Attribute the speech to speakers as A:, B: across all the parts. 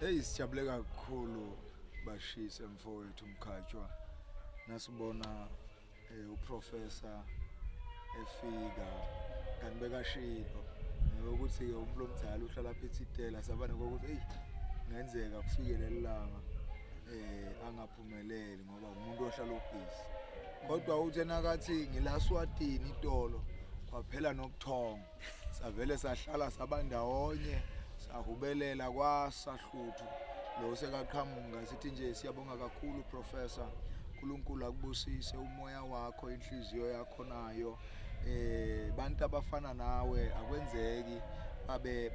A: Hey sijabule kakhulu bashise mfowethu Mkhatshwa nasibona eh, uprofessor efika kanti bekashilo ukuthi umuntu omdala uhlala phethe itela sabane kokuthi hey ngenzeka kufike lelanga eh angaphumeleli ngoba umuntu ohlala obhizi kodwa uthe nakathi ngilaswatini itolo kwaphela nokuthonga savele sahlala sabandawonye sahubelela kwasahluthu lo sekaqhamuka sithi nje siyabonga kakhulu professor uNkulunkulu akubusise umoya wakho inhliziyo yakho nayo eh bantu abafana nawe akwenzeki babe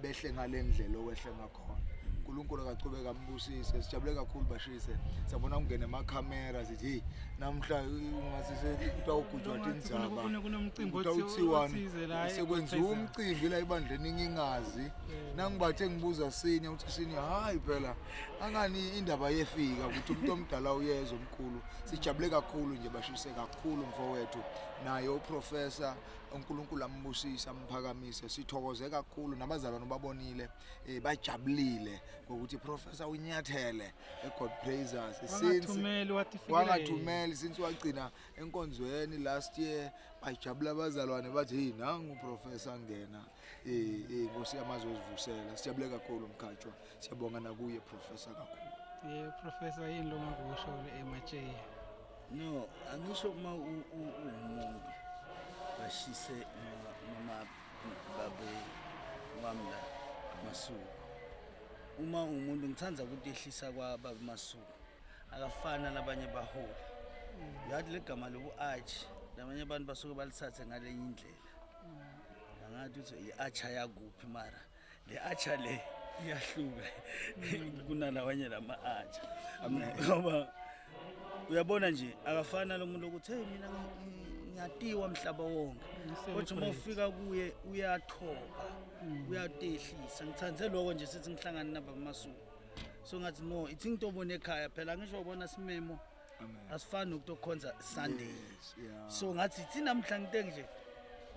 A: behle ngalendlela owehle ngakho khona uNkulunkulu akachubeka ambusise sijabule kakhulu bashise sabona kungena amakhamera sithi hey namhla ungasise utawugujwa tinzaba
B: utawuthiwani
A: sekwenziwa umcimbi la ebandleni ngingazi nangibathe ngibuza senior uthi senior hayi phela angani indaba yefika ukuthi umuntu omdala uyeza omkhulu sijabule kakhulu nje bashise kakhulu mfowethu naye uprofessor uNkulunkulu ambusise amphakamise sithokoze kakhulu nabazalwane babonile eh, bajabulile ngokuthi professor unyathele eGod Praisers since wangathumeli since wagcina enkonzweni last year bajabula abazalwane bathi hey nangu professor ngena eh, eh Nkosi yamazwe uzivusela sijabule kakhulu mkhatshwa siyabonga nakuye professor kakhulu eh professor yini lo
B: ngakusho le ematshe no
C: angisho uma umuntu bashise noma babe wami la masuku uma umuntu ngithanda ukuthi ehlisa kwaba masuku akafana labanye baholi ngathi legama lobu-arch labanye abantu basuke balithathe ngalenye indlela angathi uthi i-arch ayakuphi mara le atsha le iyahluka kunalawanye lama atsha ngoba uyabona nje akafana lo muntu ukuthi hey mina ngiyatiwa mhlaba wonke kodwa uma ufika kuye uyathoba mm. uyatehlisa ngithande lokho nje sithi ngihlangane nabamasuku so ngathi no ithi ngitobona ekhaya phela ngisho ubona simemo asifani nokuthi okukhonza sunday Yes, yeah. so ngathi thina mhla ngite nje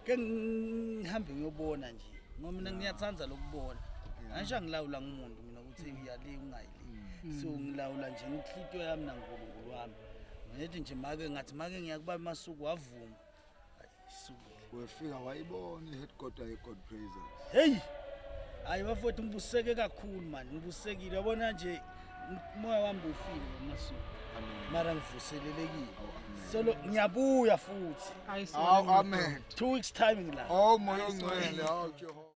C: ke ngihambe ngiyobona nje ngoba mina ngiyathanda lokubona angisha ngilawula ngumuntu mina ukuthi uyali ungayili so ngilawula nje ngihlitwe yami nankulunkulu wami ngithi nje make ngathi make ngiyakuba masuku wavuma
A: wefika wayibona i-headquarter ye-god praises heyi
C: hayi bafowethu ngibuseke kakhulu mani ngibusekile yabona nje umoya wami bufile ngamasuku mara ngivuselelekile solo ngiyabuya futhi awu amen two
A: weeks time
C: ngila oh moya ongcwele awu jehova